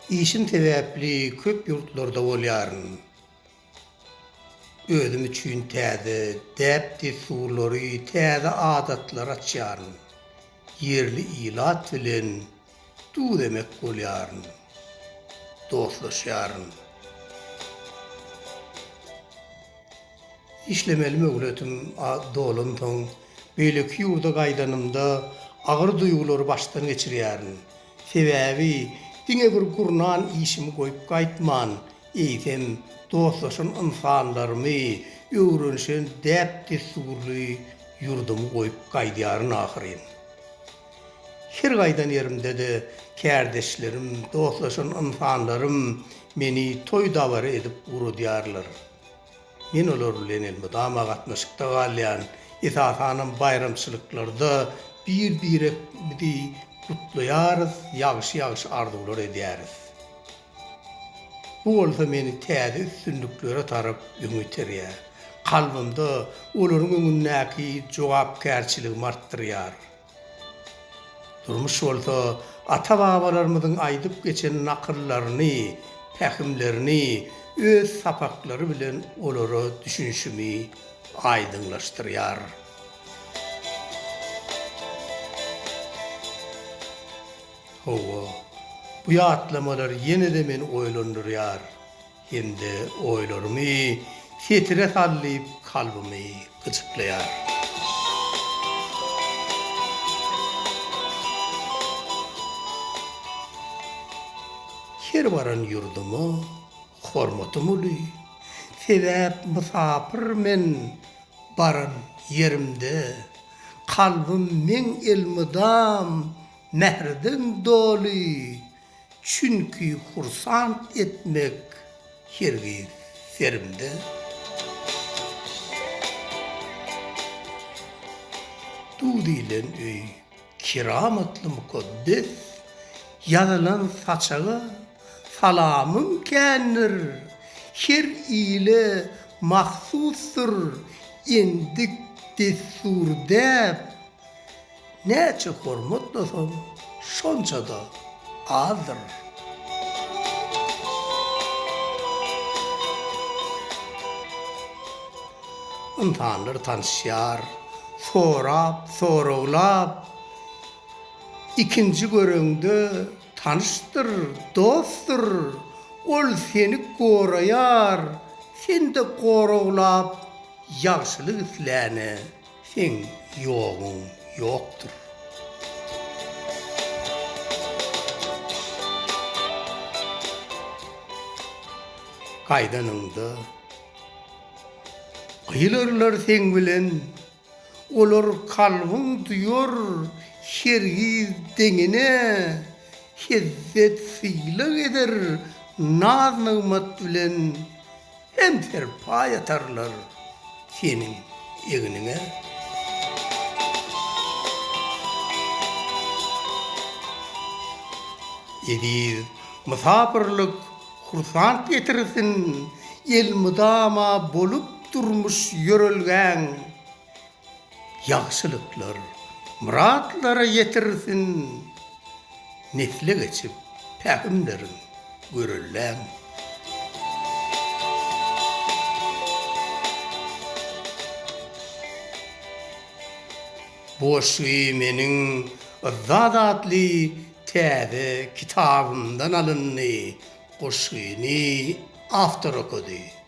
Işim sebäpli köp ýurtlarda bolýaryn. Özüm üçin täze däp-dessurlary, täze adatlary açýaryn. Ýerli ilat bilen Tutudemek bolýaryn. Dostlaşýaryn. Işlemeli möhletim dolansoň, beýleki ýurda gaýdanymda agyr duýgulary başdan geçirýärin. Sebäbi diňe bir gurnan işimi goýup gaýtman, eýsem, dostlaşan ynsanlarymy, öwrenişen däp-dessurly ýurdumy goýup gaýdýaryn ahyryn. Her gaýdan ýerimde-de kärdeşlerim, dostlaşan ynsanlarym meni toý-dabara edip ugradýarlar. Men olar bilen elmydama gatnaşykda galýan, esasanam baýramçylyklarda bir-biremizi gutlaýarys, ýagşy-ýagşy arzuwlar edýäris. Bu bolsa meni täze üstünliklere tarap öňe iterýär, kalbymda olaryň öňündäki jogapkärçiligimi artdyrýar. Durmuş bolsa ata-babalarymyzyň aýdyp geçen nakyllaryny, pähimlerini öz sapaklary bilen olara düşünişimi aýdyňlaşdyrýar. Hawa, bu ýatlamalar ýene-de meni oýlandyrýar. Hem-de oýlarymy setire sallyp kalbymy gyjyklaýar. Her baran ýurduma hormatym uly, sebäp mysapyr men baran ýerimde, kalbym meň elmydam mährden doly. Çünki hursant etmek hergiz serimde. Du diýlen öý keramatly mukaddes, Ýazylan saçaga salamym kändir, Her ile mahsusdyr endik-dessur däp. Näçe hormatlasaň, şonça-da azdyr. Ynsanlar tanyşýar, sorap, soraglap, Ikinji göreňde tanyşdyr, dostdur, Ol seni goraýar, sen-de goraglap, Ýagşylyk isläne. Seň ýogyň ýokdur. Gaýdanyňda gyýlarlar seň bilen, Olar kalbyň duýar hergiz deňine, Hezzet-sylag eder naz-nygmat bilen. Hem serpaý atarlar seniň egniňe. Eziz mysapyrlyk hursant getirsin, elmydama bolup durmuş ýörelgäň. Ýagşylyklar, myratlara ýetirsin, Nesle geçip, pähimleriň görelläň. Boşy meniň Yzzat atly täze kitabymdan alyndy, goşgyny awtor okady.